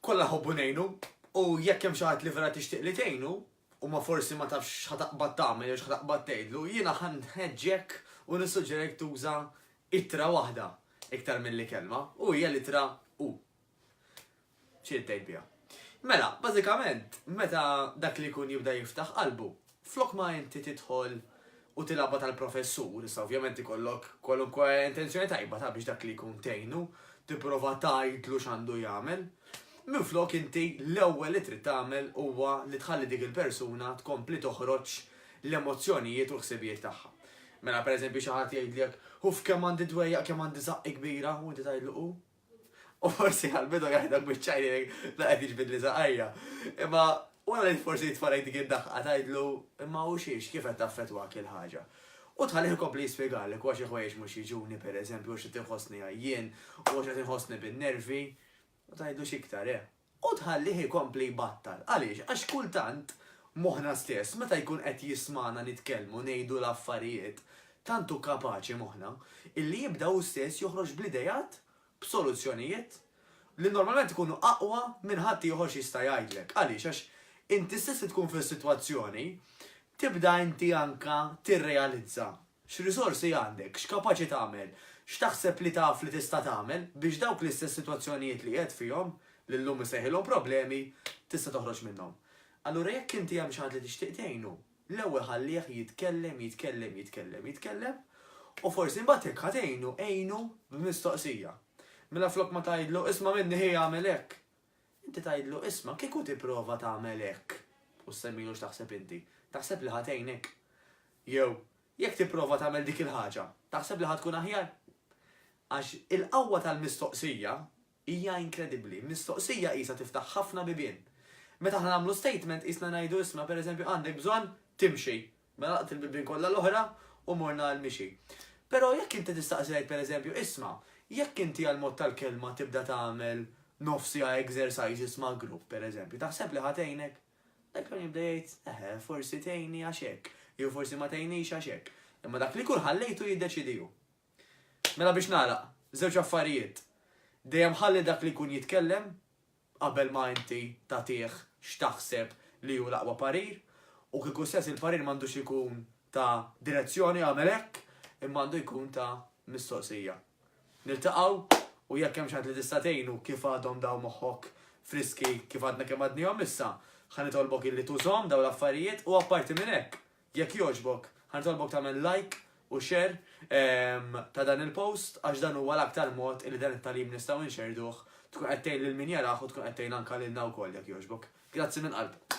Kolla ħobbu nejnu, u jekk hemm xi ħadd li vera tixtieq li tgħinu, u ma forsi ma tafx x'ħataqbad tagħmel jew x'ħataqbad tgħidlu, jiena ħan nħeġġek u nissuġġerek tuża ittra waħda iktar milli kelma, u hija l-ittra u. Xi tgħid biha. Mela, bażikament, meta dak li jkun jibda jiftaħ qalbu, Flok ma inti tidħol u tilgħabha tal-professur, issa ovvjament ikollok kwalunkwe intenzjoni tajba ta' biex dak li jkun tgħinu, tipprova tgħidlu x'għandu jagħmel. Minflok inti l-ewwel li trid tagħmel huwa li tħalli dik il-persuna tkompli toħroġ l-emozzjonijiet u l-ħsibijiet tagħha. Mela pereżempju xi ħadd jgħidlek, 'Uff kemm għandi dwejjaq, kemm għandi żaqqi kbira' u inti tgħidlu, 'U? U forsi għal-bidu jaħdak bieċajni la qed jiġbidli zaqajja. Imma wara li forsi jitfarajt dik id-daħqa tajdlu imma u xiex kif qed taffetwak il-ħaġa. U tħalli ikompli jispjegalek għax il-ħwejjeġ mhux jiġuni pereżempju għax qed inħossni għajjien u għax qed inħossni bin-nervi u tajdlu x'iktar, eh. U tħallih ikompli jbattal. Għaliex? Għax kultant moħħna stess, meta jkun qed jismagħna nitkellmu, ngħidu l-affarijiet, tant hu kapaċi moħħna, illi jibda hu stess joħroġ bl-ideat, b'soluzzjonijiet, li normalment ikunu aqwa minn ħadd ieħor x'jista' jgħidlek. Għaliex? Għax inti stess li tkun fis-sitwazzjoni, tibda inti anke tirrealizza X'riżorsi għandek? X'kapaċi tagħmel? X'taħseb li taf li tista' tagħmel biex dawk l-istess sitwazzjonijiet li qiegħed fihom, li llum issejħilhom problemi, tista' toħroġ minnhom? Allura jekk inti hemm xi ħadd li tixtieq tgħinu, l-ewwel ħallih jitkellem, jitkellem, jitkellem, jitkellem, u forsi mbagħad jekk ħa tgħinu, għinu b'mistoqsija. Minaflok ma tgħidlu, isma' minni ħi agħmel hekk! Inti tgħidlu, 'Isma', kieku tipprova tagħmel hekk, u ssemmilu x'taħseb inti, taħseb li ħa tgħinek? Jew, jekk tipprova tagħmel dik il-ħaġa, taħseb li ħa tkun aħjar? Għax il-qawwa tal-mistoqsija hija inkredibbli. Mistoqsija qisha tiftaħ ħafna bibien. Meta aħna nagħmlu statement qisna ngħidu, 'Isma', pereżempju, għandek bżonn timxi, Mela laqt il-bibien kollha l-oħra u morna għal mixi. Però jekk inti tistaqsi lajk pereżempju, isma', jekk inti għall-mod tal-kelma tibda tagħmel nofs siegħa exercises ma' grupp pereżempju, taħseb li ħa tgħinek? Dak l-ewwel jibda jgħid, eħe, forsi tgħinni għax hekk, jew forsi ma tgħinnix għax hekk. Imma dak li jkun ħallejtu jiddeċidi hu. Mela biex nagħlaq, żewġ affarijiet. Dejjem ħalli dak li jkun jitkellem qabel ma inti tagħtih x'taħseb li hu l-aqwa parir, u kieku stess il-parir m'għandux ikun ta' direzzjoni agħmel hekk, imma għandu jkun ta' mistoqsija. Niltaqgħu u jekk hemm xi ħadd li tista' tgħinu kif għadhom dawn moħħok friski kif għadna kemm għadnihom issa, ħa nitolbok illi tużhom dawn l-affarijiet u apparti minn hekk, Jekk jogħġbok, ħa nitolbok tagħmel like u share ta' dan il-post għax dan huwa l-aktar mod illi dan it-tagħlim nistgħu nxerrduh, tkun qed tgħin lil min jarah u tkun qed tgħin anke lilna wkoll jekk jogħġbok. Grazzi mill-qalb.